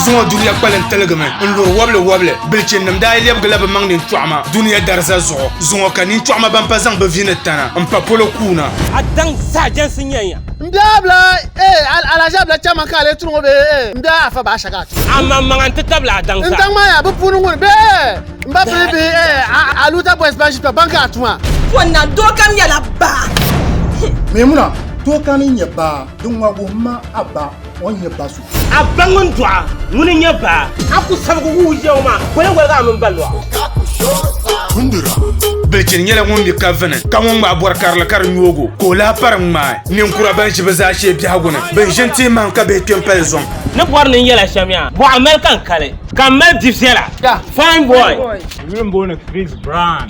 zuŋɔ duniya kpalim tiligimi n luri wobili wobili bilichinim daa yi lɛbigila bi maŋ nin tɔɣima duniya dariza zuɣu zuŋɔ ka nin tɔɣima ban pa zaŋ bi vini tana n pa polo kuuna a daŋ saajɛnsi nyɛnya N bia bila, ee, alahiʒia bila chɛmi ka a lee tiri ŋɔ bee, ee, m bia afa baa shɛga a ti. Aman maŋa n ti tabili a daŋ sa. N daŋ maa yaa bi puuni ŋuni bee, ee, m ba pili bihi, ee, a Luta Boys ban ʒi kpɛ ban ka a tuma. Pɔ na doo kam nyɛla baa. Meemuna doo kam n nyɛ baa, din ŋɔ wuhim ma a ba o ni nyɛ ba so. A ba ŋun dɔɣa, ŋuni n-nyɛ baa? A ku sabigi wuhi Yawɛ maa, bɔ yɛn woligi a mini ba lɔɣu? Bilichini nyɛla ŋun mi ka vini, ka ŋun ŋmaai bɔri karili ka di nyoog o, ka o lahi pari ŋmaai ninkura ban ʒi bɛ zaashee biɛhigu ni, bɛn ʒini ti yi mahim ka bihi kpe m-pali zuŋ. Ni bɔri ni n yɛl a shɛm yaa, bɔɣa mali ka n kali, ka m mali bi viɛla. Fine boy! N yuli m-booni Chris Brown.